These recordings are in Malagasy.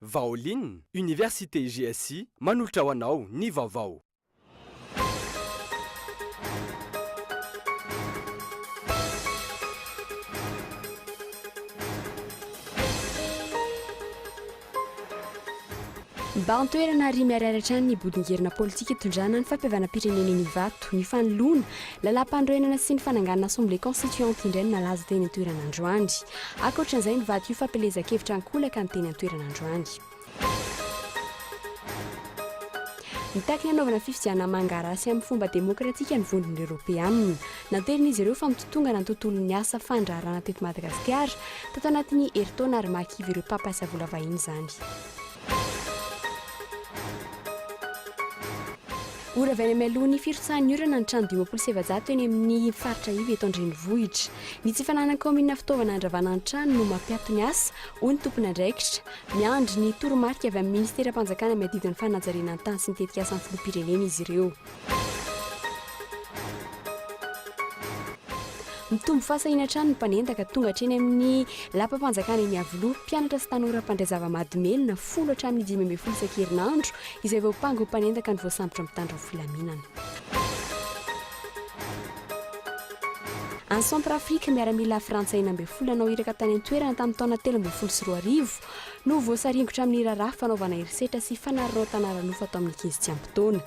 Vaolin, Université GSI manolotra ho anao ny vaovao. Bahan-toerana ary miharihary hatrany ny bodin-gerona politika itondrana ny fampihavanam-pirenena eny Ivato. Ny fanoloana. Lalàmpanorenana sy ny fananganana Assemblée Constituante indray no nalaza teny an-toerana androany. Ankoatra izay, nivadik'io fampielezan-kevitra an-kolaka ny teny an-toerana androany. Nitaky ny hanaovana fifidianana mangarà sy amin'ny fomba demokratika ny Vondron'ireo Eoropeanina. Nanterin'izy ireo fa mitotongana ny tontolon'ny asa fandraharahana teto Madagasikara tato anatin'ny herintaona ary mahakivy ireo mpampiasa vola vahiny izany. Ora avy any amin'ny alohan'ny firotsahan'ny orana ny trano dimampolo sy efajato eny amin'ny faritra iva eto an-drenivohitra. Ny tsy fananan'ny kaominina fitaovana handravana ny trano no mampiato ny asa, hoy ny tompon'andraikitra. Miandry ny toromarika avy amin'ny minisiteram-panjakana miadidy ny fanajariana ny tany sy ny tetikasan'ny filoham-pirenena izy ireo. Mitombo fahasahiana hatrany ny mpanendaka tonga hatreny amin'ny lapam-panjakana eny Iavoloha, mpianatra sy tanora mpandray zava-mahadomelina folo hatramin'ny dimy ambin'ny folo isan-kerinandro izay voampanga ho mpanendaka ny voasambotra amin'ny mpitandro ny filaminana. Any Centrafrique, miaramila frantsay enina ambin'ny folo nanao iraka tany an-toerana tamin'ny taona telo ambin'ny folo sy roa arivo no voasaringotra amin'ny raharaha fanaovana herisetra sy fanararaotana ara-nofo atao amin'ny ankizy tsy ampy taona.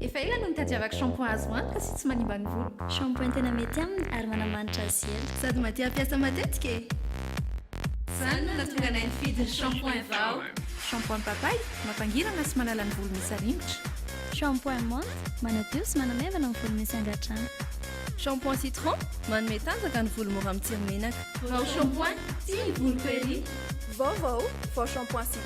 Efa ela no nitadiavako shampoing azo antoka sy tsy manimba ny voloko. Shampoing tena mety aminy ary manamanitra azy sy ela. Sady mahatia hampiasa matetika e! Izany no nahatonga anay nifidy ny shampoing vao. Shampoing papay, mampangirana sy manala ny volo misy aringotra. Shampoing menthe, manadio sy manamaivana ny volo misy angadrano. Shampoing citron, manome tanjaka ny volo mora mitsiry menaka. Vao shampoing, tia ny voloko ery! Vaovao, vao shampoing citron.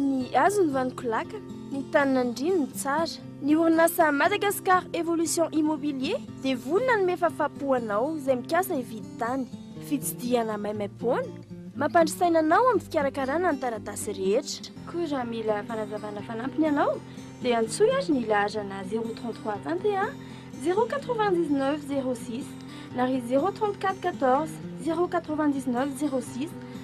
Ny hazo ny vaniko laka, ny tany nandrino ny tsara. Ny orinasa Madagascar Evolution Immobilier dia vonona hanome fafapo anao izay mikasa hividy tany. Fitsidihana maimaimpoana mampandry saina anao amin'ny fikarakarana ny taratasy rehetra. Koa raha mila fanazavana fanampiny ianao dia antsoy ary ny laharana zéro trente trois vingt et un zéro quatre vingt dix neuf zéro six na ry zéro trente quatre quatorze zéro quatre vingt dix neuf zéro six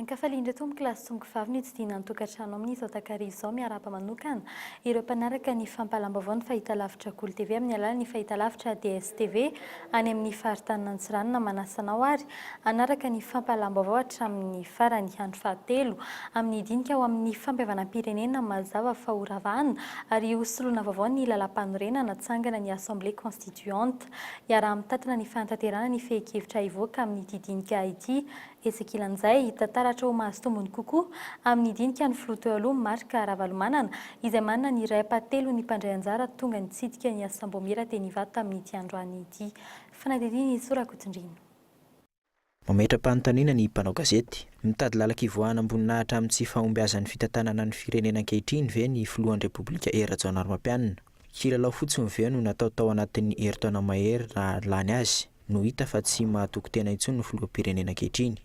Ankafalian-dry tompoko lahy sy tompoko vavy ny hotsidihina ny tokantrano amin' izao takariva izao. Miarahaba manokana ireo mpanaraka ny fampahalam-baovao ny Fahitalavitra Golo TV amin' ny alalan' ny fahitalavitra DSTV any amin' ny faritanin' Antsiranana. Manasa anao àry hanaraka ny fampahalam-baovao hatramin' ny farany. Andro fahatelo amin' ny dinika ho amin' ny fampihavanam-pirenena mazava fa horavana ary hosoloana vaovao ny lalàmpanorenana. Tsangana ny Assemblée Constituante. Iaraha-mitantana ny fanatanterahana ny fehin-kevitra hivoaka amin'ity dinika ity. Etsy ankilan'izay, hita taratra ho mahazo tombony kokoa amin'ny dinika ny filoha teo aloha Marc Ravalomanana izay manana ny iray ampahatelon'ny mpandray anjara tonga nitsidika ny Assambomiera teny Ivato tamin'ity androany ity. Fanadindiana Jesosy Rakotondriana. Mametra-panontaniana ny mpanao gazety. Mitady lalan-kivoahana am-boninahitra amin'ny tsy fahombiazan'ny fitantanana ny firenena ankehitriny ve ny filohan'ny Repoblika Hery Rajaonarimampianina? Kilalao fotsiny ve no natao tao anatin'ny herintaona mahery raha lany azy no hita fa tsy mahatoky tena intsony ny filoham-pirenena ankehitriny?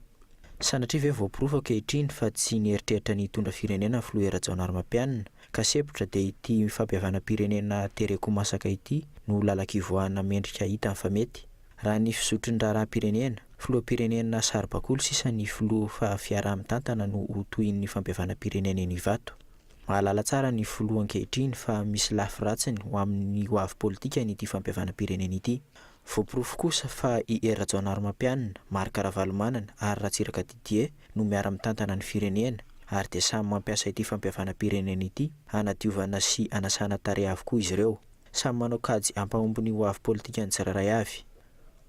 Sanatria ve voaporofo ankehitriny fa tsy nieritreritra ny hitondra firenena ny filoha Hery Rajaonarimampianina ka sepotra dia ity fampihavanam-pirenena tereko masaka ity no lalan-kivoahana mendrika hitany fa mety? Raha ny fizotry ny raharaham-pirenena, filoham-pirenena saribakoly sisa ny filoha fa fiaraha-mitantana no ho tohin'ny fampihavanam-pirenena eny Ivato. Mahalala tsara ny filoha ankehitriny fa misy lafy ratsiny ho amin'ny ho avy politikany ity fampihavanam-pirenena ity. Voaporofo kosa fa i Hery Rajaonarimampianina, Marc Ravalomanana ary Ratsiraka Didier no miara-mitantana ny firenena ary dia samy mampiasa ity fampihavanam-pirenena ity hanadiovana sy hanasana tarehy avokoa izy ireo. Samy manao kajy hampahomby ny hoavy politikan'ny tsirairay avy.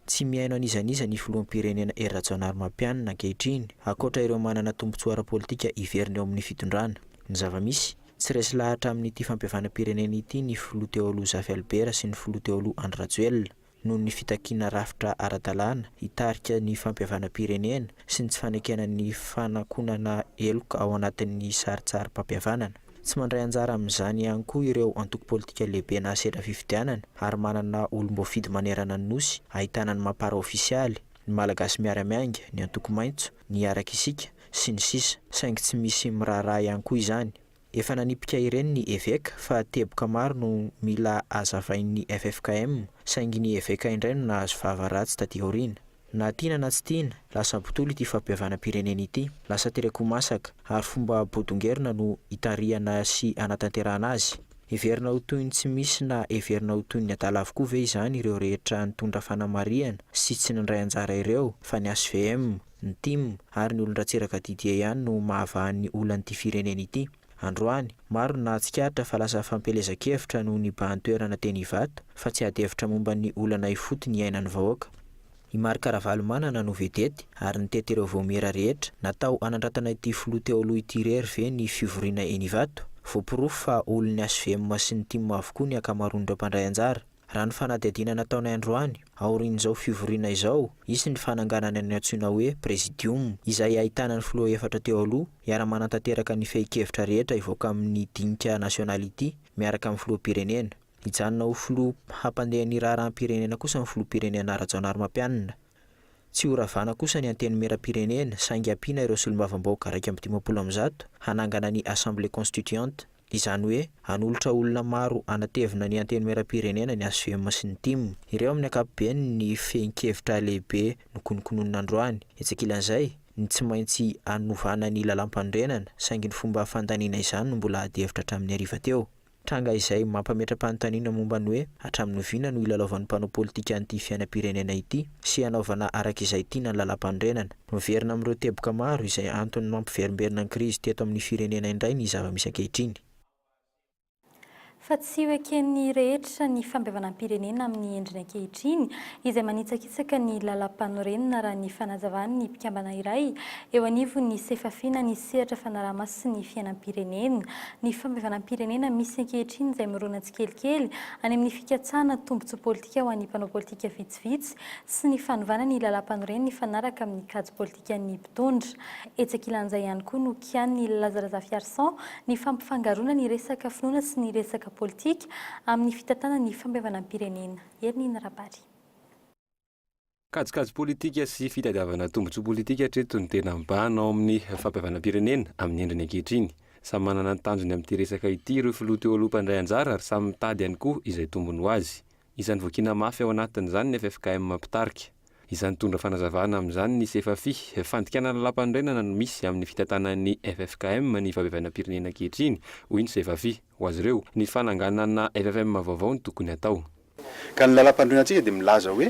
Tsy mihaino an'iza n'iza ny filoham-pirenena Hery Rajaonarimampianina ankehitriny, ankoatra ireo manana tombontsoa ara-politika hiverina eo amin'ny fitondrana. Ny zava-misy, tsy resy lahatra amin'ity fampihavanam-pirenena ity ny filoha teo aloha Zafy Albert sy ny filoha teo aloha Andry Rajoelina. noho ny fitakiana rafitra ara-dalàna hitarika ny fampihavanam-pirenena sy ny tsy fanekena ny fanakonana heloka ao anatin'ny sarintsarim-pampihavanana. Tsy mandray anjara amin'izany ihany koa ireo antoko politika lehibe nahasedra fifidianana ary manana olom-boafidy manerana ny Nosy ahitana ny Mapar ofisialy, ny Malagasy Miara-Miainga, ny Antoko Maitso, ny Hiaraka Isika, sy ny sisa Saingy tsy misy miraharaha ihany koa izany. Efa nanipika ireny ny eveka fa teboka maro no mila hazavain'ny ffkm saingy ny eveka indray no nahazo vava ratsy taty aoriana. Na tiana na tsy tiana, lasa botolo ity fampihavanam-pirenena ity, lasa tereko masaka ary fomba bodongerina no itarihana sy anatanterahana azy. Heverina ho toy ny tsy misy na heverina ho toy ny adala avokoa ve izany ireo rehetra nitondra fanamarihana sy tsy nandray anjara ireo fa ny hvm, Ny tim ary ny olon-dRatsiraka Didier ihany no mahavaha ny olan'ity firenena ity. Androany, maro no nahatsikaritra fa lasa fampielezan-kevitra no nibahan-toerana teny Ivato fa tsy adihevitra momba ny olana ifotony iainan'ny vahoaka. I Marc Ravalomanana no vedety ary nitety ireo vaomiera rehetra natao hanandratana ity filoha teo aloha ity irery ve ny fivoriana eny Ivato? Voaporofo fa olon'ny HVM sy ny tim avokoa ny ankamaroan'ireo mpandray anjara. Raha ny fanadihadiana nataonay androany, aorian'izao fivoriana izao, hisy ny fananganana ny antsoina hoe Presidium, izay hahitana ny filoha efatra teo aloha, hiara-manantanteraka ny fehin-kevitra rehetra hivoaka amin'ny dinika nasionaly ity, miaraka amin'ny filoham-pirenena. Hijanona ho filoha hampandeha ny raharaham-pirenena kosa ny filoham-pirenena Rajaonarimampianina. Tsy ho ravana kosa ny Antenimierampirenena saingy hampiana ireo solombavambahoaka iraika amby dimampolo amin'ny zato hanangana ny Assemblée Constituante. Izany hoe hanolotra olona maro hanatevina ny Antenimierampirenena ny HVM sy ny tim. Ireo amin'ny ankapobeny ny fehin-kevitra lehibe nokonokononina androany. Etsy ankilan'izay, ny tsy maintsy hanovana ny lalàmpanorenana saingy ny fomba fandaniana izany no mbola adihevitra hatramin'ny hariva teo. Tranga izay mampametra-panontaniana momba ny hoe hatramin'ny oviana no hilalaovan'ny mpanao politika an'ity fiainam-pirenena ity sy hanaovana araka izay tiana ny lalàmpanorenana. Miverina amin'ireo teboka maro izay antony mampiverimberina ny krizy teto amin'ny firenena indray ny zava-misy ankehitriny. Fa tsy ho eken'ny rehetra ny fampihavanam-pirenena amin'ny endriny ankehitriny izay manitsakitsaka betsaka ny lalampanorenana raha ny fanazavan' ny mpikambana iray eo anivon' ny Sefafina ny sehatra fanarahamaso sy ny fiainam-pirenena ny fampihavanam-pirenena misy ankehitriny izay mirona tsikelikely any amin' ny fikatsahana tombontsoa pôlitika ho an' ny mpanao pôlitika vitsivitsy sy ny fanovana ny lalampanoren' ny fanaraka amin' ny kajy pôlitikan' ny mpitondra etsy ankilan' izay ihany koa no kian' i Laza Razafiarison ny fampifangaroana ny resaka finoana sy ny resaka pôlitika amin' ny fitantanana ny fampihavanam-pirenena Ernina Rabary. Kajikajy politika sy fitadiavana tombontsoa politika hatreto no tena mibahana ao amin'ny fampihavanam-pirenena amin'ny endriny ankehitriny. Samy manana ny tanjony amin'ity resaka ity ireo filoha teo aloha mpandray anjara ary samy mitady ihany koa izay tombony ho azy. Isan'ny voakiana mafy ao anatin'izany ny ffkm mpitarika. Isan'ny nitondra fanazavana amin'izany ny Sefafi. Fandikana lalàmpanorenana no misy amin'ny fitantanan'ny ffkm ny fampihavanam-pirenena ankehitriny, hoy ny Sefafi. Ho azy ireo, ny fananganana ffkm vaovao no tokony hatao. Ka ny Lalampanorenantsika dia milaza hoe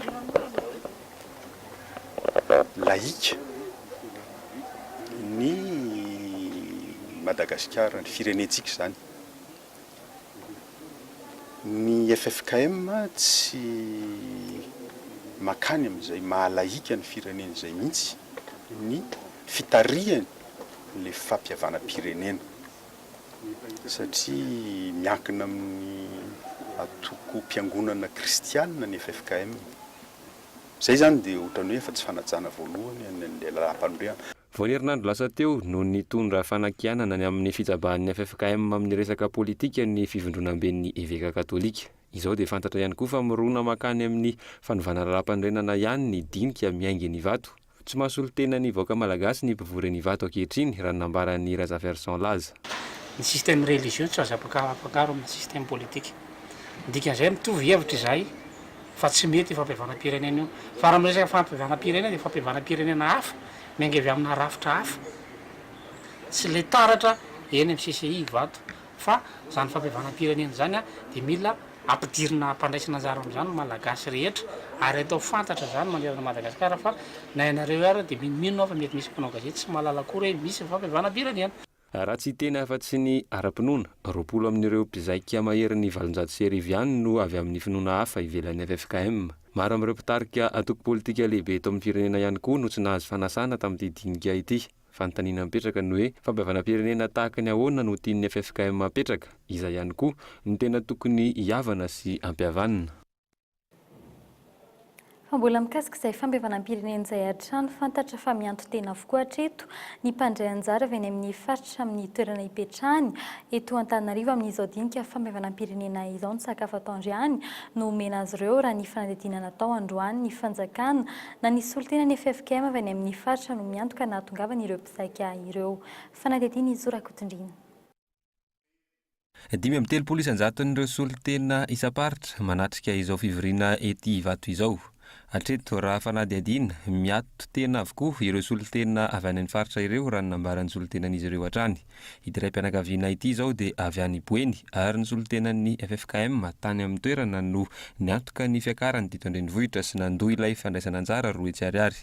laïque ny Madagasikara, ny firenentsika izany. Ny ffkm tsy mankany amin'izay maha laïque ny firenena izay mihitsy ny fitarihany ilay fampihavanam-pirenena. satria miankina amin'ny antokom-piangonana kristianina ny ffkm. Izay izany dia ohatran'ny hoe efa tsy fanajana voalohany an'ilay lalam-panondriana. Vao herinandro lasa teo no nitondra fanakianana ny amin'ny fitsabahan'ny ffkm amin'ny resaka politika ny fivondronamben'ny eveka katolika. Izao dia fantatra ihany koa fa mirona mankany amin'ny fanovana lalam-panorenana ihany ny dinika miainga eny Ivato. Tsy mahasolo tena ny vahoaka malagasy ny mpivory any Ivato ankehitriny, raha ny nambaran'i Razafiarison Laza. Ny système religieux tsy azo afangaro amin'ny système politique. Ny dikan'izay, mitovy hevitra izahay fa tsy mety io fampihavanam-pirenena io. Fa raha miresaka fampihavanam-pirenena dia fampihavanam-pirenena hafa, miainga avy amina rafitra hafa. Tsy ilay taratra eny amin'ny CCI Ivato, Fa izany fampihavanam-pirenena izany dia mila ampidirina ampandraisana anjara amin'izany ny Malagasy rehetra ary atao fantatra izany manerana an'i Madagasikara fa na ianareo ary dia minominona aho fa mety misy mpanao gazety tsy mahalala akory hoe misy ny fampihavanam-pirenena. Raha tsy hiteny afa-tsy ny ara-pinoana, roapolo amin'ireo mpizaika maherin'ny valonjato sy arivo ihany no avy amin'ny finoana hafa ivelan'ny ffkm. Maro amin'ireo mpitarika antoko politika lehibe eto amin'ny firenena ihany koa no tsy nahazo fanasana tamin'ity dinika ity. Fanontaniana mipetraka ny hoe, fampihavanam-pirenena tahaka ny ahoana no tian'ny ffkm hapetraka? Iza ihany koa no tena tokony hihavana sy hampihavanina? Fa mbola mikasika izay fampihavanam-pirenena izay hatrany, fantatra fa mianto-tena avokoa hatreto ny mpandray anjara avy any amin'ny faritra amin'ny toerana ipetrahany eto Antananarivo amin'izao dinika fampihavanam-pirenena izao. Ny sakafo atoandro ihany no omena azy ireo raha ny fanadihadiana natao androany ny fanjakana Na ny solontena ny ffkm avy any amin'ny faritra no miantoka ny nahatongavan'ireo mpizaika ireo. Fanadihadiana i Zo Rakotondiana. Dimy amby telopolo isan-jaton'ireo solontena isam-paritra manatrika izao fivoriana ety Ivato izao. Hatreto, raha fanadihadiana, miato tena avokoa ireo solontena avy any amin'ny faritra ireo raha ny nambaran'ny solontenan'izy ireo hatrany. Ity raim-pianakaviana ity izao dia avy any Boeny ary ny solontenan'ny ffkm tany amin'ny toerana no niantoka ny fiakarany teto an-drenivohitra sy nandoa ilay fandraisana anjara roa hetsy ariary.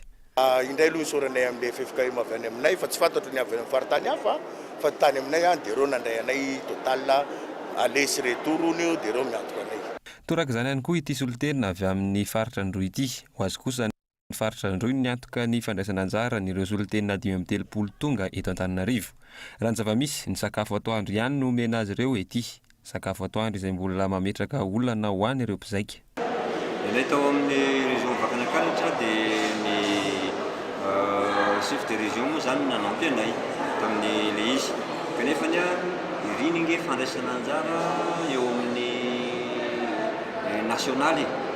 Indray aloha isaoranay amin'ny ffkm avy any aminay fa tsy fantatro ny avy any amin'ny faritany hafa fa ny tany aminay any dia ireo nandray anay total aller sy retour hono io dia ireo miantoka anay. Toraka izany ihany koa ity solontenina avy amin'ny faritra Androy ity. Ho azy kosa ny. Ny faritra Androy no niantoka ny fandraisana anjara an'ireo solontena dimy amby telopolo tonga eto Antananarivo. Raha ny zava-misy, ny sakafo atoandro ihany no omena azy ireo ety. Sakafo atoandro izay mbola mametraka olana ho an'ireo mpizaika. Ilay tao amin'ny région Vakinankaratra dia ny chef de région moa izany no nanampy anay tamin'ilay izy. Kanefa anie iriny ange fandraisana anjara eo amin'ny nationale e!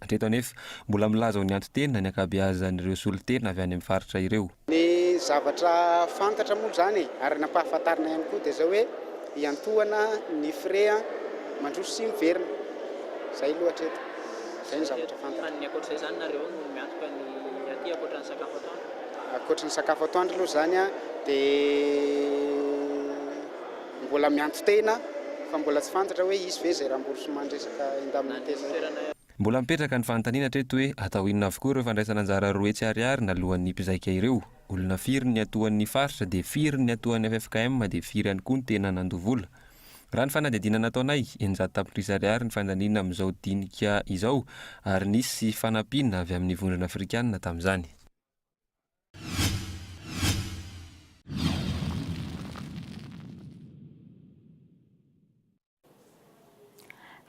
Hatreto anefa, mbola milaza ho ny anton-tena ny ankabeazan'ireo solontena avy any amin'ny faritra ireo. Ny zavatra fantatra moa izany e, ary nampahafantarina ihany koa dia izao hoe hiantohana ny frais mandroso sy miverina. Izay aloha hatreto. Izay no zavatra fantatra. Fa ny ankoatr'izay izany nareo ao no miantoka ny aty ankoatra ny sakafo atoandro? Ankoatry ny sakafo atoandro aloha izany dia. Mbola miantso tena fa mbola tsy fantatra hoe hisy ve izay remboursement resaka indemnité zay. Mbola mipetraka ny fanontaniana hatreto hoe atao inona avokoa ireo fandraisana anjara roa hetsy ariary naloan'ny mpizaika ireo? Olona firy ny atoan'ny faritra dia firy ny atoan'ny ffkm dia firy ihany koa ny tena nandoa vola? Raha ny fanadihadiana nataonay, eninjato tapitrisa ariary ny fandaniana amin'izao dinika izao ary nisy fanampiana avy amin'ny vondrona afrikana tamin'izany.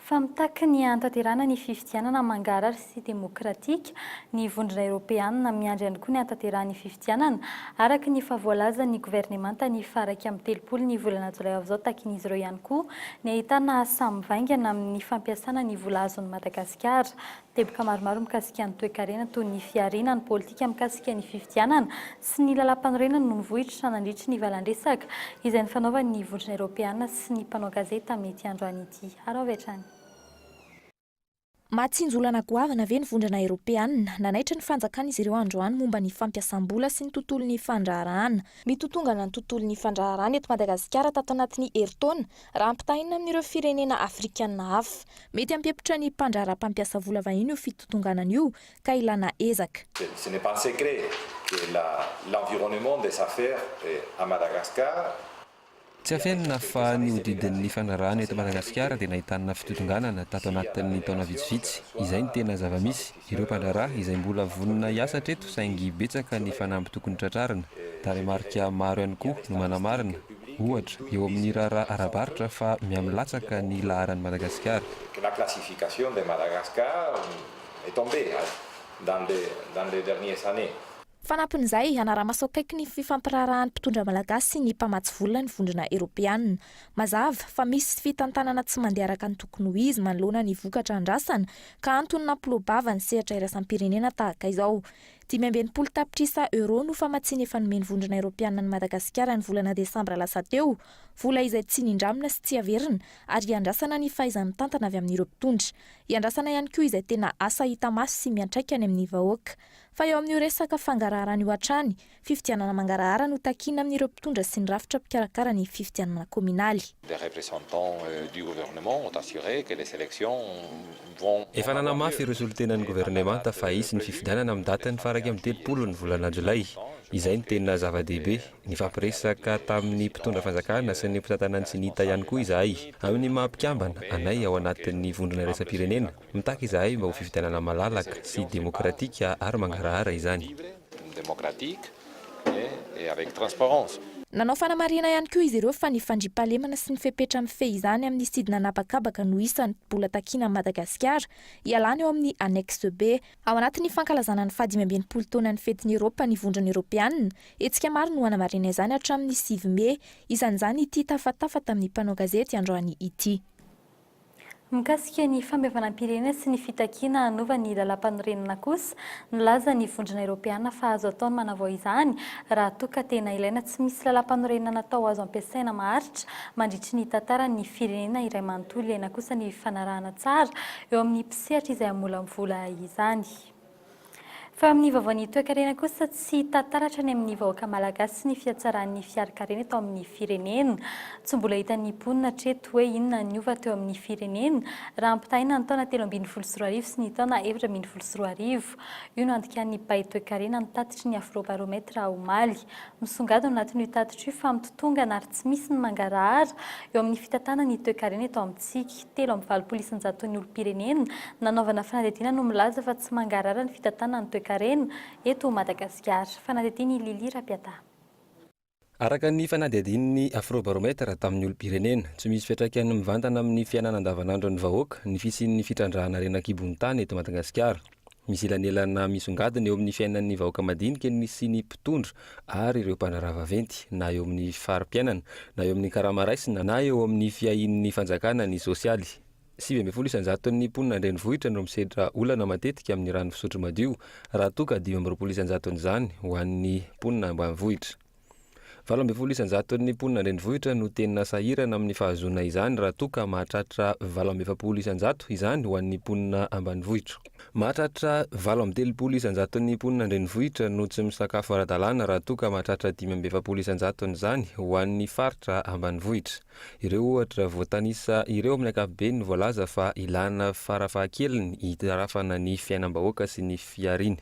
Fa mitaky ny hahatanterahana ny fifidianana mangarhary sy demokratika, ny Vondrona Eoropeanina miandry ihany koa ny hahatanterahana ny fifidianana araka ny efa voalazan' ny governemanta ny faha iraika amby telopolo ny volana jolay ho avy izao Takin' izy ireo ihany koa ny ahitana asa mivaingana amin' ny fampiasana ny vola azon' i Madagasikara Teboka maromaro mikasika ny toekarena toy ny fihariana ny politika mikasika ny fifidianana sy ny lalàmpanorenana no nivoitra nandritry ny valandresaka izay nifanaovan'ny Vondrona Eropeana sy ny mpanao gazety tamin'ity androany ity. Haro avy hatrany. Mahatsinjolana goavana ve ny Vondrana Eropeana? Nanaitra ny fanjakana izy ireo androany momba ny fampiasam-bola sy ny tontolon'ny fandraharahana. Mitotongana ny tontolon'ny fandraharahana eto Madagasikara tato anatin'ny herintaona raha ampitahaina amin'ireo firenena afrikana hafa. Mety hampihepitra ny mpandraharaha mpampiasa vola vahiny io fitontonganana io ka ilana ezaka. Ce n'est pas un secret que la l'environnement des affaires à Madagascar. Tsy afenina fa ny hodidin'ny fandraharahana eto Madagasikara dia nahitana fitontonganana tato anatin'ny taona vitsivitsy. Izay no tena zava-misy. Ireo mpandraharaha izay mbola vonona hiasa hatreto saingy betsaka ny fanamby tokony tratrarina. Tarehimarika maro ihany koa no manamarina, ohatra, eo amin'ny raharaha ara-barotra fa mihamilatsaka ny laharan'i Madagasikara. Fanampin'izay, hanara-maso akaiky ny fifampiraharahan'ny mpitondra malagasy sy ny mpamatsy vola ny vondrona eropeanina. Mazava fa misy fitantanana tsy mandeha araka ny tokony ho izy manoloana ny vokatra andrasana ka antony nampiloa-bava ny sehatra iraisam-pirenena tahaka izao. Dimy amby enimpolo tapitrisa euros no famatsiana efa nomen'ny Vondrona Eropeana an'i Madagasikara ny volana desambra lasa teo, vola izay tsy nindramina sy tsy averina ary hiandrasana ny fahaiza-mitantana avy amin'ireo mpitondra. Hiandrasana ihany koa izay tena asa hita maso sy miantraika any amin'ny vahoaka. Fa eo amin'io resaka fangaraharana io hatrany, Fifidianana mangarahara no takiana amin'ireo mpitondra sy ny rafitra mpikarakara ny fifidianana kaominaly. Efa nanamafy ireo solontenan'ny governemanta fa hisy ny fifidianana amin'ny datiny faharaika amby telopolo ny volana jolay. Izay no tena zava-dehibe. Nifampiresaka tamin'ny mpitondra fanjakana sy ny mpitantana ny Cnita ihany koa izahay, amin'ny maha mpikambana anay ao anatin'ny vondrona iraisam-pirenena. Mitaky izahay mba ho fifidianana malalaka sy demokratika ary mangarahara izany. Nanao fanamarihana ihany koa izy ireo fa ny fandriampahalemana sy ny fepetra mifehy izany amin'ny sidina an'habakabaka no isan'ny mbola takiana an'i Madagasikara hialana eo amin'ny Annexe B. Ao anatin'ny fankalazana ny fahadimy amby enimpolo taonan'ny fetin'ny Eropa ny Vondrona Eropeanina, hetsika maro no hanamarina izany hatramin'ny sivy mey, isan'izany ity tafatafa tamin'ny mpanao gazety androany ity. Mikasika ny fandevanam-pirenena sy ny fitakiana hanova ny lalàmpanorenana kosa, nilaza ny Vondrona Eropeana fa azo atao ny manavao izany raha toa ka tena ilaina. Tsy misy lalàmpanorenana natao azo ampiasaina maharitra mandritry ny tantaran'ny firenena iray manontolo ilaina kosa ny fanarahana tsara eo amin'ny mpisehatra izay hamolavola izany. Fa amin'ny vaovaon'ny toekarena kosa, tsy hita taratra any amin'ny vahoaka malagasy ny fihatsaran'ny fiarikarena eto amin'ny firenena. Tsy mbola hitan'ny mponina hatreto hoe inona ny niova teo amin'ny firenena raha ampitahaina ny taona telo ambin'ny folo sy roa arivo sy ny taona efatra ambin'ny folo sy roa arivo. Io no andikan'ny mpay toekarena ny tatitry ny Afrobaromètre omaly. Misongadina ao anatin'io tatitra io fa mitotongana ary tsy misy ny mangarahara eo amin'ny fitantanana ny toekarena eto amintsika. telo amby valopolo isan-jaton'ny olom-pirenena nanaovana fanadihadiana no milaza fa tsy mangarahara ny fitantanana ny toekarena eto Madagasikara. Fanadihadian'i Lily Rapiata. Araka ny fanadihadian'ny Afrobaromètre tamin'ny olom-pirenena, tsy misy fiantraikany mivantana amin'ny fiainana andavanandron'ny vahoaka ny fisian'ny fitrandrahana harena an-kibon'ny tany eto Madagasikara. Misy elanelana misongadina eo amin'ny fiainan'ny vahoaka madinika ny sy ny mpitondra ary ireo mpandraharaha vaventy, na eo amin'ny fari-piainana, na eo amin'ny karama raisina, na eo amin'ny fiahian'ny fanjakana ny sosialy. Sivy ambin'ny folo isan-jaton'ny mponina an-drenivohitra no misedra olana matetika amin'ny rano fisotro madio, raha toa ka dimy amby roapolo isan-jaton'izany ho an'ny mponina ambanivohitra. Valo ambin'ny folo isan-jaton'ny mponina an-drenivohitra no tena sahirana amin'ny fahazoana izany raha toa ka mahatratra valo amby efapolo isan-jato izany ho an'ny mponina ambanivohitra. Mahatratra valo amby telopolo isan-jaton'ny mponina an-drenivohitra no tsy misakafo ara-dalàna raha toa ka mahatratra dimy amby efapolo isan-jatony izany ho an'ny faritra ambanivohitra. Ireo ohatra voatanisa ireo amin'ny ankapobeny no voalaza fa ilàna farafahakeliny hitarafana ny fiainam-bahoaka sy ny fihariany.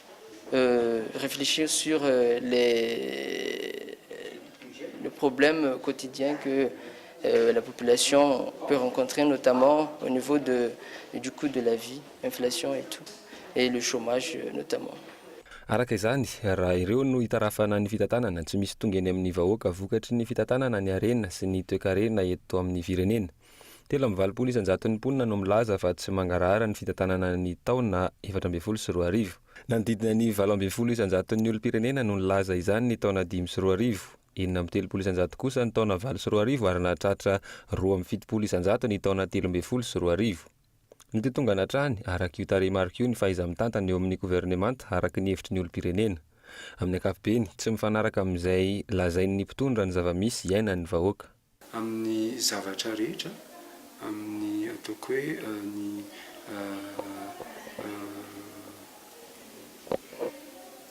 réfléchir sur les le problème quotidien que la population peut rencontrer notamment au niveau de du coût de la vie, inflation et tout et le chômage notamment. Araka izany, raha ireo no itarafana ny fitantanana, tsy misy tonga eny amin'ny vahoaka vokatry ny fitantanana ny harena sy ny toekarena eto amin'ny firenena. Telo amby valopolo isan-jaton'ny mponina no milaza fa tsy mangarahara ny fitantanana ny taona efatra ambin'ny folo sy roa arivo. Nanodidina ny valo ambin'ny folo isan-jaton'ny olom-pirenena no nilaza izany ny taona dimy sy roa arivo. Enina amby telopolo isan-jato kosa ny taona valo sy roa arivo ary nahatratra roa amby fitopolo isan-jato ny taona telo ambin'ny folo sy roa arivo. Nitotongana hatrany, araka io tarehimarika io, ny fahaiza-mitantana eo amin'ny governemanta, araka ny hevitry ny olom-pirenena. Amin'ny ankapobeny, tsy mifanaraka amin'izay lazain'ny mpitondra ny zava-misy iainan'ny vahoaka. Amin'ny zavatra rehetra, amin'ny ataoko hoe ny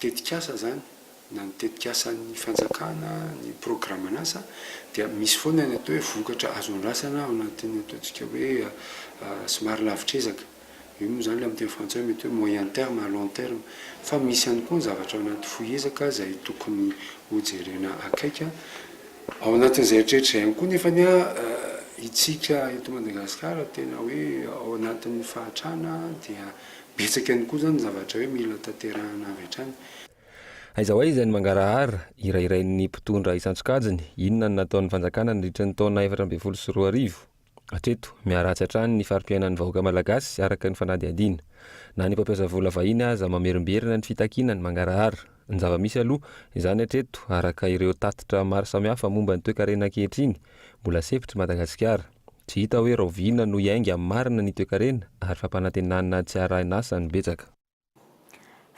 tetikasa izany, na ny tetikasan'ny fanjakana, ny programan'asa, dia misy foana ny atao hoe vokatra azo andrasana ao anatin'ny ataontsika hoe somary lavitr'ezaka. Io moa izany amin'ny teny frantsay mety hoe moyen terme à long terme. Fa misy ihany koa ny zavatra ao anaty fohy ezaka izay tokony ho jerena akaiky. Ao anatin'izay rehetra izay ihany koa nefany isika eto Madagasikara tena hoe ao anatin'ny fahatrana dia betsaka ihany koa izany ny zavatra hoe mila tanterahina avy hatrany. Aiza ho aiza ny mangarahara hirahirain'ny mpitondra isan-tsokajiny? Inona no nataon'ny fanjakana nandritra ny taona efatra ambin'ny folo sy roa arivo? Hatreto, miharatsy hatrany ny fari-piainan'ny vahoaka malagasy araka ny fanadihadiana. Na ny mpampiasa vola vahiny aza mamerimberina ny fitakiana ny mangarahara. Ny zava-misy aloha, izany hatreto, araka ireo tatitra maro samihafa momba ny toekarena ankehitriny, mbola sefotr' i Madagasikara. Tsy hita hoe rahoviana no hiainga amin'ny marina ny toekarena ary fampanantenana tsy harahin' asa no betsaka.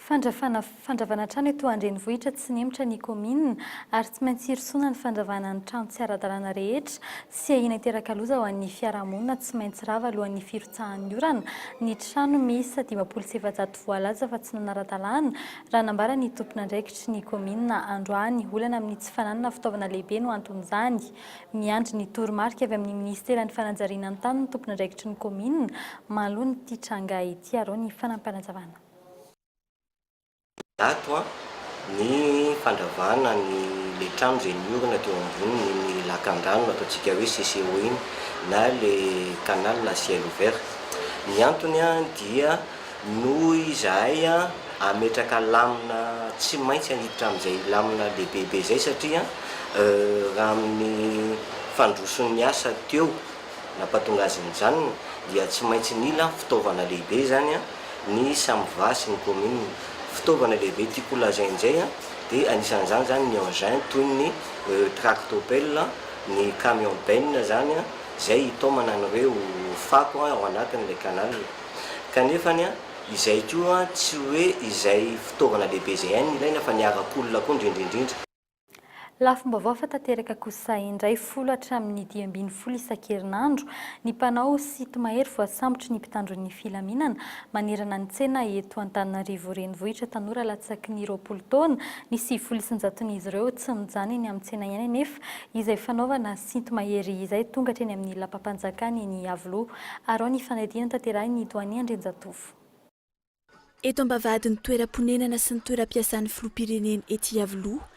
Fandravana Fandravana trano eto an-drenivohitra tsy nihemotra ny kaominina ary tsy maintsy hirosoana ny fandravana ny trano tsy ara-dalàna rehetra tsy ahiana hiteraka loza ho an'ny fiarahamonina tsy maintsy rava alohan'ny firotsahan'ny orana ny trano miisa dimampolo sy efajato voalaza fa tsy nanara-dalàna raha nambaran'ny tompon'andraikitry ny kaominina androany olana amin'ny tsy fananana fitaovana lehibe no anton'izany Miandry ny toromarika avy amin'ny minisiteran'ny fanajariana ny tany ny tompon'andraikitry ny kaominina mahaloan'ity tranga ity arao ny fanampinazavana. Zato ny fandravana ny ilay trano izay niorina teo ambonin'iny lakandrano ataontsika hoe CCO iny na ilay canal à ciel ouvert. Ny antony dia. Noho izahay hametraka lamina tsy maintsy haniditra amin'izay lamina lehibebe izay satria raha amin'ny fandroson'ny asa teo nampatonga azy nijanona dia tsy maintsy nila fitaovana lehibe izany ny Samva sy ny kaominina. Fitaovana lehibe tiako ho lazaina indray dia anisan'izany izany ny engins toy ny tractopelle, ny camion benne izany izay hitaomana an'ireo fako ao anatin'ilay canal. Kanefany, izay koa tsy hoe izay fitaovana lehibe izay ihany no ilaina fa ny harak'olona koa indrindra indrindra. Lafim-baovao efa tanteraka kosa indray, folo hatramin'ny dimy ambin'ny folo isan-kerinandro ny mpanao site mahery voasambotry ny mpitandro ny filaminana manerana ny tsena eto Antananarivo renivohitra. Tanora latsaky ny roapolo taona ny sivifolo isan-jaton'izy ireo tsy mijanona eny amin'ny tsena ihany anefa izay fanaovana Sinto mahery izay tonga hatreny amin'ny lapam-panjakana eny Iavoloha. Arao ny fanadihana tanterahin'ny Doania Andrianjatovo. Eto am-bavahadin'ny toeram-ponenana sy ny toeram-piasan'ny filoham-pirenena ety Iavoloha,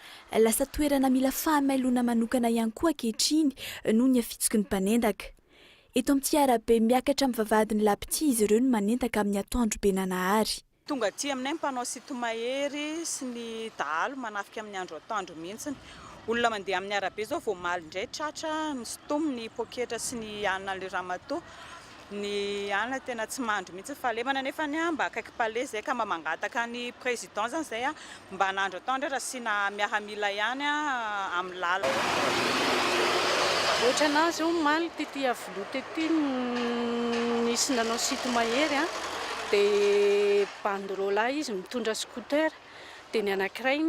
lasa toerana mila fahamailoana manokana ihany koa ankehitriny noho ny afitsiky ny mpanendaka. Eto amin'ity arabe miakatra amin'ny vavahadin'ny Lapitia izy ireo no manendaka amin'ny atoandro be nanahary. Tonga aty aminay ny mpanao site mahery sy ny dahalo manafika amin'ny andro atoandro mihitsy. Olona mandeha amin'ny arabe izao vao omaly indray tratra ny stom, ny poketra sy ny anan'ilay ramatoa. Ny anana tena tsy mandry mihitsy ny fahalemana nefa mba akaiky palais izay ka mba mangataka ny président izany izay Mba anandro atao ndray rasiana miaramila ihany amin'ny lalana. Otranazy omaly tety aviloha tety nisy nanao site mahery a, de banderola izy mitondra scooter, de ny anakiray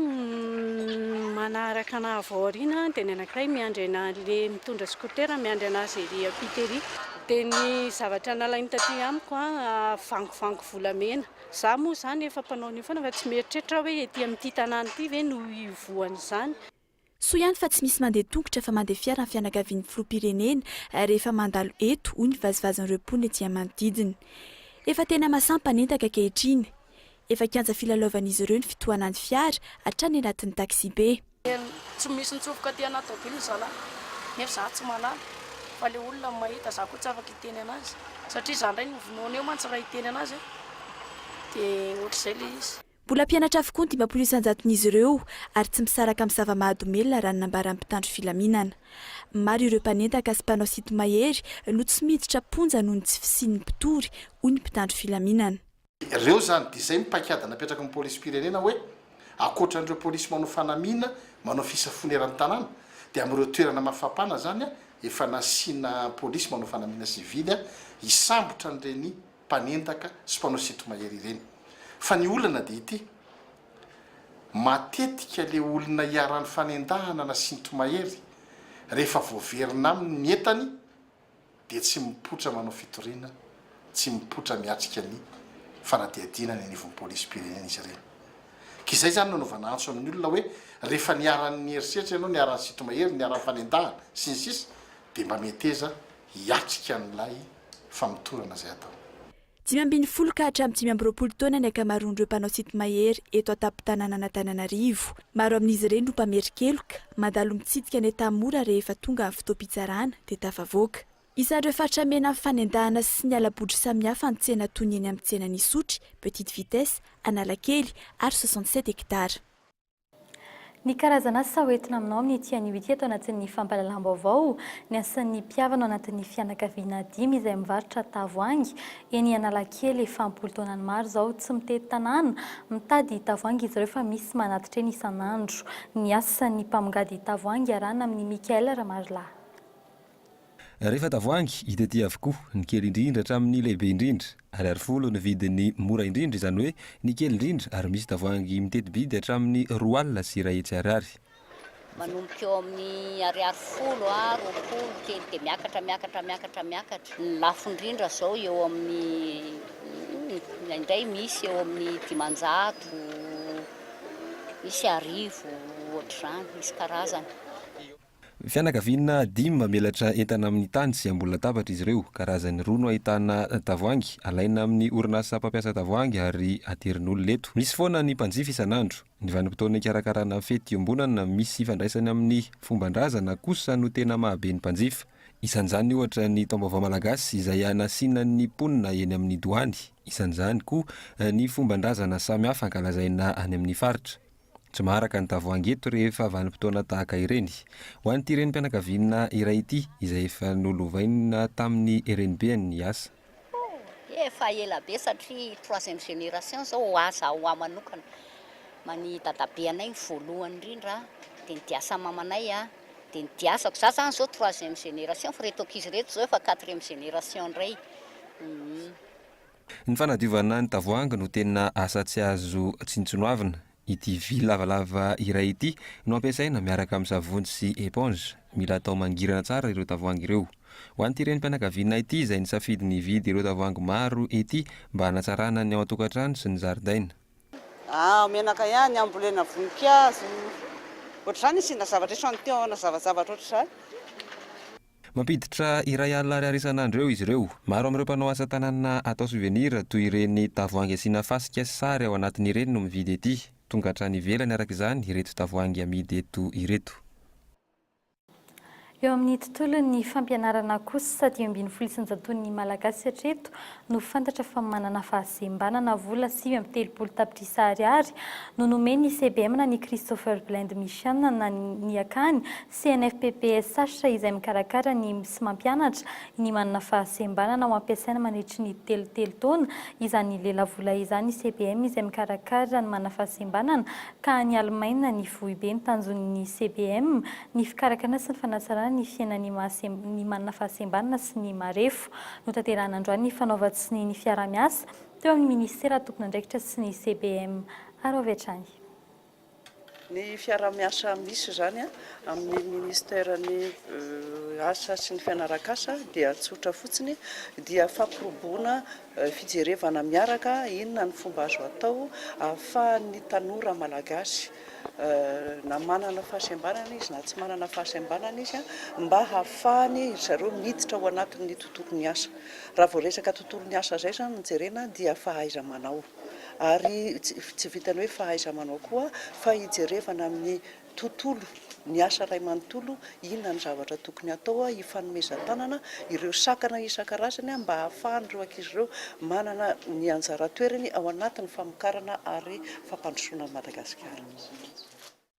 manaraka anah avy ao aoriana, de ny anakiray miandry anah le mitondra scooter miandry anazy ery ampita ery. De ny zavatra nalainy taty amiko a, vangovango volamena, Za moa zany efa mpanao an'io foana fa tsy mieritreritra aho hoe ety amin'ity tanàna ity ve no hivohan'izany. Soa ihany fa tsy misy mandeha tongotra fa mandeha fiara ny fianakavian'ny filoham-pirenena rehefa mandalo eto, hoy ny vazivazin'ireo mponina ety amin'ny manodidina. Efa tena masampanentaka ankehitriny. Efa kianja filalaovan'izy ireo ny fitohanan'ny fiara, hatrany anatin'ny taxi-be. Tsy misy nitsofoka aty anaty tôbily zalahy nefa za tsy malala fa le olona no mahita za koa tsy afaka hiteny anazy satria za ndray novonoina eo mantsy raha hiteny anazy aho de ohatr'izay le izy. Mbola mpianatra avokoa ny dimampolo isan-jaton'izy ireo ary tsy misaraka amin'ny zava-mahadomelina raha ny nambaran'ny mpitandro filaminana. Maro ireo mpanendaka sy mpanao sinto-mahery no tsy miditra am-ponja noho ny tsy fisian'ny mpitory, hoy ny mpitandro filaminana. Ireo izany dia izay ny paikady napetraky ny polisim-pirenena hoe ankoatra an'ireo polisy manao fanamiana manao fisafoana eran'ny tanàna dia amin'ireo toerana mafapana izany efa nasiana polisy manao fanamiana sivily hisambotra an'ireny mpanendaka sy mpanao sinto-mahery ireny. Fa ny olana dia ity, matetika ilay olona iharan'ny fanendahana na sinto-mahery rehefa voaverina aminy ny entany, dia tsy mipoitra manao fitoriana, tsy mipoitra miatrika ny fanadihadiana any anivon'ny polisim-pirenena izy ireny. Ka izay izany no anaovana antso amin'ny olona hoe rehefa niharan'ny herisetra ianao, niharan'ny sinto-mahery, niharan'ny fanendahana, sy ny sisa, dia mba meteza hiatrika an'ilay famotorana izay atao. Dimy ambin'ny folo ka hatramin'ny dimy amby roapolo taona ny ankamaroan'ireo mpanao site mahery eto an-tampon-tanànan'Antananarivo. Maro amin'izy ireny no mpamerin-keloka, mandalo mitsidika ny Tanmora rehefa tonga ny fotoam-pitsarana dia tafavoaka. Isan'ireo faritra mena amin'ny fanendahana sy ny hala-bodry samihafa ny tsena toy ny eny amin'ny tsenan'Isotry, Petite Vitesse, Analakely ary soixante sept hectares. Ny karazan'asa ho entina aminao amin'ity anio ity ato anatin'ny fampahalalam-baovao ny asan'ny mpihavana ao anatin'ny fianakaviana dimy izay mivarotra tavoahangy eny Analakely efa am-polon-taonany maro izao. Tsy mitety tanàna mitady tavoahangy izy ireo fa misy manatitra eny isan'andro. Ny asan'ny mpamongady tavoahangy iarahana amin'i Michael Ramarilahy. Rehefa tavoahangy, hita ety avokoa, ny kely indrindra hatramin'ny lehibe indrindra. Ariary folo ny vidin'ny mora indrindra, izany hoe ny kely indrindra, ary misy tavoahangy miteti-bidy hatramin'ny roa alina sy iray hetsy ariary. Manomboka eo amin'ny ariary folo a roapolo ny kely, dia miakatra, miakatra, miakatra, miakatra. Ny lafo indrindra izao eo amin'ny, indraindray misy eo amin'ny dimanjato, misy arivo, ohatr'izany, misy karazany. Fianakaviana dimy mamelatra entana amin'ny tany sy ambony latabatra izy ireo. Karazany roa no ahitana tavoahangy, alaina amin'ny orinasa mpampiasa tavoahangy ary aterin'olona eto. Misy foana ny mpanjifa isan'andro. Ny vanim-potoana hikarakarana fety iombonana misy ifandraisany amin'ny fomban-drazana kosa no tena mahabe ny mpanjifa. Isan'izany ohatra ny Taom-baovao malagasy izay hanasiana ny mponina eny amin'ny doany. Isan'izany koa ny fomban-drazana samihafa ankalazaina any amin'ny faritra. Tsy maharaka ny tavoahangy eto rehefa vanim-potoana tahaka ireny. Ho an'ity renim-pianakaviana iray ity, izay efa nolovaina tamin'ny renibeny ny asa. Efa ela be satria troisième génération izao ho ahy za ho ahy manokana. Man'i dadabe anay ny voalohany indrindra, dia ny diasan'i mamanay, dia ny diasako. Za izany izao troisième génération fa ireto ankizy ireto izao efa quatrième génération indray. Ny fanadiovana ny tavoahangy no tena asa tsy azo tsinontsinoavina. Ity vy lavalava iray ity no ampiasaina miaraka amin'ny savony sy éponge. Mila atao mangirana tsara ireo tavoahangy ireo. Ho an'ity renim-pianakavianay ity izay nisafidy ny hividy ireo tavoahangy maro ity mba hanatsarana ny ao an-tokantrano sy ny zaridaina. Aah, menaka ihany ambolena voninkazo. Ohatr'izany asiana zavatra esoan'ny tehona zavazavatra ohatr'izany. Mampiditra iray alina ariary isan'andro eo izy ireo. Maro amin'ireo mpanao asa tanana atao souvenir, toy ireny tavoahangy asiana fasika sy sary ao anatiny ireny no mividy ety. Tonga hatrany ivelany araka izany ireto tavoahangy amidy eto ireto. Eo amin'ny tontolon'ny fampianarana kosa, dimy ambin'ny folo isanjaton'ny Malagasy hatreto no fantatra fa manana fahasembanana. Vola sivy amby telopolo tapitrisa ariary no nomen'ny CBM na ny Christopher Blind Mission na ny akany CNFPPSH izay mikarakara ny sy mampianatra ny manana fahasembanana ho ampiasaina mandritry ny telo telo taona izany lelavola izany CBM izay mikarakara ny manana fahasembanana ka any Alemaina ny foibe ny tanjon'ny CBM ny fikarakarana sy ny fanatsarana ny fiainan'ny ny manana fahasembanana sy ny marefo notanterahina androany ny fanaovan-tsonia ny fiaraha-miasa teo amin'ny minisitera tompon'andraikitra sy ny CBM ary avy hatrany. Ny fiaraha-miasa misy izany amin'ny Ministeran'ny Asa sy ny Fianaran-kasa dia tsotra fotsiny, dia fampirobona fijerevana miaraka inona ny fomba azo atao ahafahan'ny tanora malagasy, na manana fahasembanana izy na tsy manana fahasembanana izy, mba hahafahany ry zareo miditra ao anatin'ny tontolon'ny asa. Raha vao resaka tontolon'ny asa izay izany no jerena dia fahaiza-manao. ary tsy vitan'ny hoe fahaiza-manao koa fa hijerevana amin'ny tontolo, ny asa iray manontolo, inona ny zavatra tokony hatao, hifanomezan-tanana ireo sakana isan-karazany mba hahafahan'ireo ankizy ireo manana ny anjara toerany ao anatin'ny famokarana ary fampandrosoana an'i Madagasikara.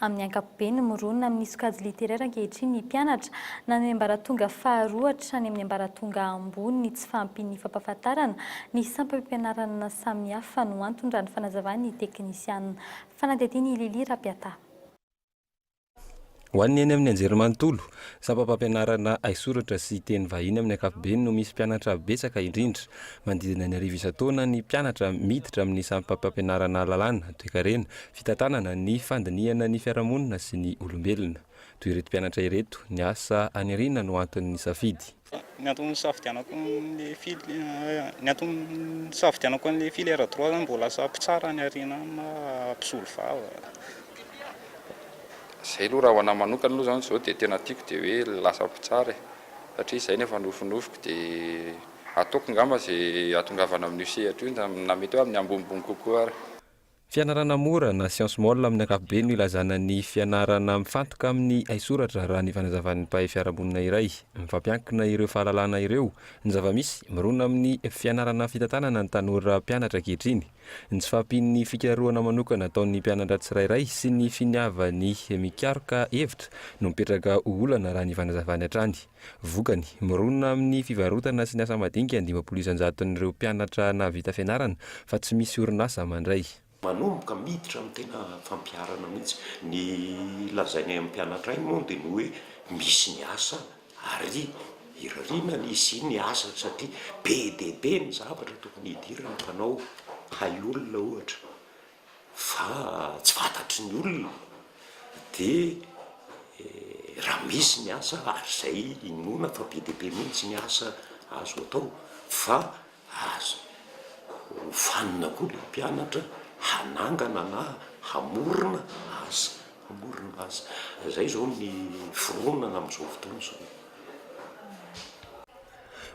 Amin'ny ankapobeny, mirona amin'ny sokajy literaire ankehitriny ny mpianatra, na ny ambaratonga faharoa hatrany amin'ny ambaratonga ambony, ny tsy fahampian'ny fampahafantarana ny sampam-pianarana samihafa no antony, raha ny fanazavan'ny teknisianina. Fanadihadian'i Lily Rapiata. Ho an'ny eny amin'ny anjerimanontolo, sampam-pampianarana haisoratra sy teny vahiny amin'ny ankapobeny no misy mpianatra betsaka indrindra. Manodidina ny arivo isan-taona ny mpianatra miditra amin'ny sampam-pampianarana lalàna, toekarena, Fitantanana ny fandinihana ny fiarahamonina sy ny olombelona. Toy ireto mpianatra ireto, ny asa any aoriana no antony nisafidy. Ny antony nisafidianako an'ilay fily, ny antony nisafidianako an'ilay filière droit zany mba ho lasa mpitsara any aoriana any na mpisolo vava. Izay aloha raha ho anahy manokana aloha zany izao dia tena tiako dia hoe lasa mpitsara e! satria izay no efa nofinofiko dia ataoko ngamba izay hahatongavana amin'io sehatra io na mety hoe amin'ny ambonimbony kokoa ary. Fianarana mora na science mole amin'ny ankapobeny no ilazana ny fianarana mifantoka amin'ny haisoratra raha ny fanazavan'ny mpahay fiarahamonina iray. Mifampiankina ireo fahalalana ireo, ny zava-misy, mirona amin'ny fianarana fitantanana ny tanora mpianatra ankehitriny, ny tsy fahampian'ny fikarohana manokana ataon'ny mpianatra tsirairay sy ny finiavany mikaroka hevitra no mipetraka ho olana raha ny fanazavany hatrany. Vokany, mironona amin'ny fivarotana sy ny asa madinika ny dimampolo isan-jaton'ireo mpianatra nahavita fianarana fa tsy misy orinasa mandray. Manomboka miditra amin'ny tena fampiharana mihitsy. Ny lazainay amin'ny mpianatray moa dia ny hoe misy ny asa ary irariana ny hisian'ny asa satria be dia be ny zavatra tokony hidiran'ny mpanao hay olona ohatra. fa tsy fantatry ny olona de raha misy ny asa ary zay inoana fa be dia be mihitsy ny asa azo atao fa aza hofanina koa ilay mpianatra hanangana na hamorona asa, hamorona asa, zay zao ny fironana amzao fotoana zao.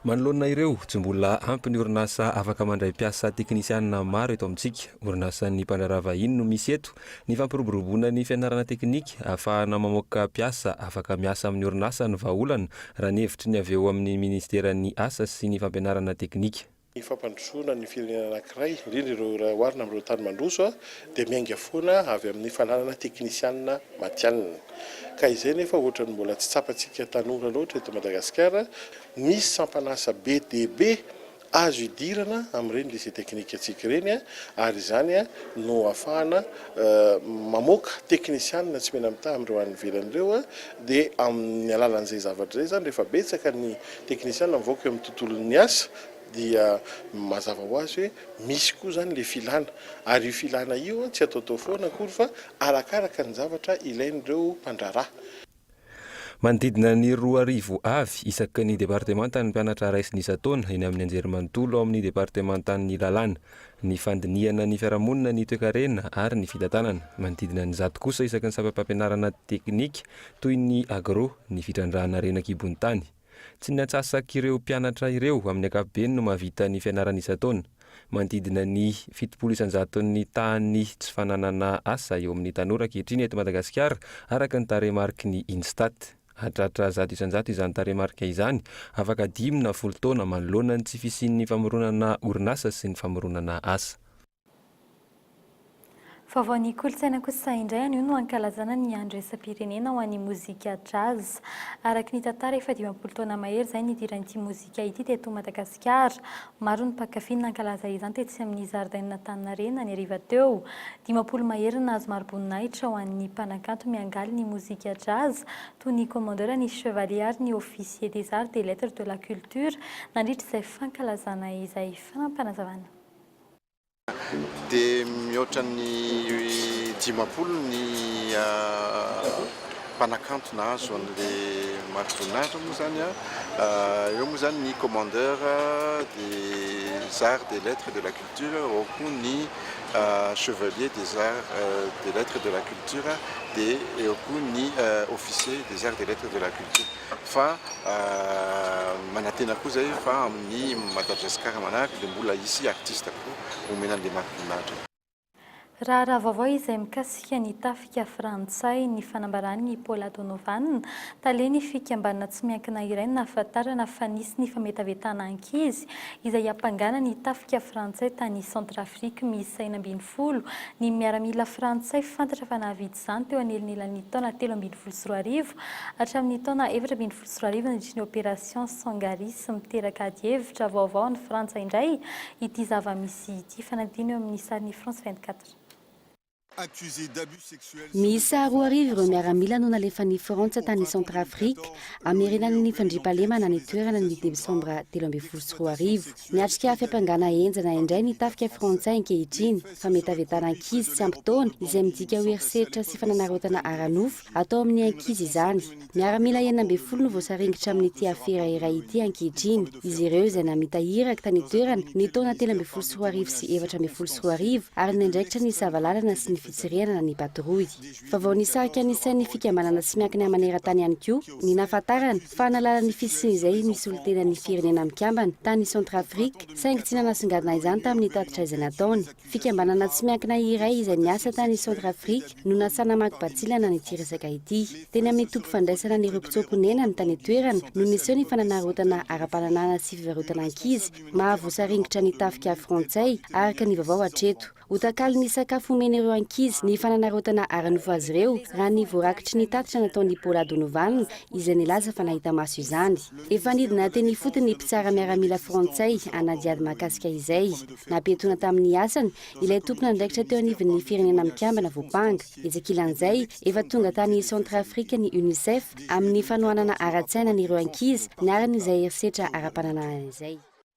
Manoloana ireo, tsy mbola ampy ny orinasa afaka mandray mpiasa teknisiana maro eto amintsika. Orinasan'ny mpandraharaha vahiny no misy eto. Ny fampiroboroboana ny fianarana teknika ahafahana mamoaka mpiasa afaka miasa amin'ny orinasa no vahaolana, raha ny hevitry ny avy eo amin'ny minisiteran'ny Asa sy ny fampianarana teknika. ny fampandrosoana ny firenena anankiray, indrindra ireo iray oharina amin'ireo tany mandroso, dia miainga foana avy amin'ny fananana teknisianina matihanina. Ka izay nefa ohatran'ny mbola tsy tsapantsika tanora loatra eto Madagasikara, misy sampan'asa be dia be azo idirana amin'ireny lycée technique antsika ireny ary izany no ahafahana mamoaka teknisianina tsy mena-mitaha amin'ireo any ivelany ireo. dia amin'ny alalan'izay zavatra izay izany rehefa betsaka ny teknisiana mivoaka eo amin'ny tontolon'ny asa dia mazava ho azy hoe misy koa izany ilay filana ary io filana io tsy ataotao foana akory fa arakaraka ny zavatra ilain'ireo mpandraharaha. Manodidina ny roa arivo avy isaky ny departemanta ny mpianatra raisin'ny isan-taona eny amin'ny anjerimanontolo ao amin'ny departemantan'ny lalàna. ny fandinihana ny fiarahamonina, ny toekarena ary ny fitantanana. Manodidina ny zato kosa isaky ny sampam-pampianarana teknika toy ny agro, ny fitrandrahana harena an-kibon'ny tany. Tsy ny antsasak'ireo mpianatra ireo amin'ny ankapobeny no mahavita ny fianarana isan-taona. Manodidina ny fitopolo isan-jato ny tahan'ny tsy fananana asa eo amin'ny tanora ankehitriny eto Madagasikara, araka ny tarehimariky ny INSTAT. Hahatratra zato isan-jato izany tarehimarika izany, afaka dimy na folo taona manoloana ny tsy fisian'ny famoronana orinasa sy ny famoronana asa. Vaovaon'ny kolontsaina kosa indray anio no ankalazana ny andro iraisam-pirenena ho an'ny mozika Jazz. Araka ny tantara, efa dimampolo taona mahery izay nidiran'ity mozika. Tsipitsipika ity teto Madagasikara. Maro ny mpankafy ny nankalaza izany tetsy amin'ny zaridainan'Antaninarenina ny hariva teo. Dimampolo mahery no nahazo mari-boninahitra ho an'ny mpanakanto miangaly ny mozika Jazz toy ny Commandeur, ny Chevalier ary ny Officier des Arts des Lettres de la Culture nandritra izay fankalazana izay. Fanampinazavana. dia mihoatra ny dimampolo ny mpanakanto nahazo an'ilay marika voninahitra moa izany an, eo moa izany ny commandeur des arts, des lettres et de la culture ao koa ny chevalier des arts, des lettres et de la culture dia eo koa ny officier des arts, des lettres et de la culture. fa manantena koa zay fa amin'ny Madagascar manaraka dia mbola hisy artiste koa homena an'ilay Marc-Vinatra. Raharaha vaovao izay mikasika ny tafika frantsay ny fanambaran'i i Paula Donovan, talen'ny fikambanana tsy miankina iray no nahafantarana fa nisy ny fametavetana ankizy izay hiampangana ny tafika frantsay tany Centrafrique miisa enina ambin'ny folo ny miaramila frantsay fantatra fa nahavitsy izany teo anelnelan'ny taona telo ambin'ny folo sy roa arivo hatramin'ny taona efatra ambin'ny folo sy roa arivo nandritry ny Opération Sangaris miteraka adihevitra vaovao any Frantsa indray ity zava-misy ity, fanadino eo amin'ny sarin'ny France vingt quatre. Miisa roa arivo ireo miaramila no nalefan'i Frantsa tany Centrafrique hamerenana ny fandriampahalemana any an-toerana ny desambra telo ambin'ny folo sy roa arivo. Miatrika fiampangana henjana indray ny tafika frantsay ankehitriny. Fametavetana ankizy tsy ampy taona, izay midika ho herisetra sy fananarotana ara-nofo atao amin'ny ankizy izany. Miaramila enina ambin'ny folo no voasaringotra amin'ity afera iray ity ankehitriny. Izy ireo izay namita iraka tany an-toerana ny taona telo ambin'ny folo sy roa arivo sy efatra ambin'ny folo sy roa arivo ary niandraikitra ny sava-lalana sy ny fitsirihanana ny patrouille. Vaovao nisarika ny sain'ny fikambanana tsy miankina maneran-tany ihany koa ny nahafantarana fa nahalala ny fisian'izay nisolontenan'ny Firenena Mikambana tany Centrafrique saingy tsy nanasongadina izany tamin'ny tatitra izay nataony. Fikambanana tsy miankina iray izay miasa tany Centrafrique no nasaha namaky batsilana an'ity resaka ity. Teny amin'ny toby fandraisana an'ireo mpitsoa-ponenany tany an-toerana no niseho ny fananarotana ara-pananahana sy fivarotana ankizy mahavosaringotra ny tafika frantsay, araka ny vaovao hatreto. Ho takalon'ny sakafo omena ireo ankizy ny fananarotana ara-nofo azy ireo, raha ny voarakitry ny tatitra nataon'i Paula Donovan, izay nilaza fa nahita maso izany. Efa nidina teny ifotony ny mpitsara miaramila frantsay hanadihady mahakasika izay. Nampiatoana tamin'ny asany ilay tompon'andraikitra teo anivon'ny Firenena Mikambana Voampanga. Etsy ankilan'izay, efa tonga tany Centrafrique ny Unicef amin'ny fanohanana ara-tsaina an'ireo ankizy niharan'izay herisetra ara-pananahana izay.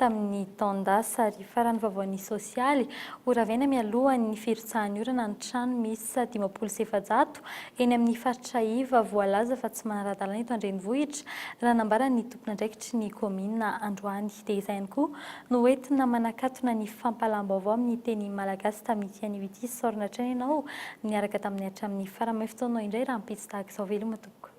tamin'ny taon-dasa ary faran'ny vaovaon'ny sosialy ho ravaina mialohan'ny firotsahan'ny orana ny trano miisa dimampolo sy efajato eny amin'ny faritra iva voalaza fa tsy manara-dalàna eto an-drenivohitra raha nambaran'ny tompon'andraikitry ny kaominina androany dia izay ihany koa no hoentina manakatona ny fampahalam-baovao amin'ny teny malagasy tamin'ity anio ity saorina hatrany ianao niaraka tamin'ny hatramin'ny faran'ny fotoanao indray rahampitso tahaka izao veloma tompoko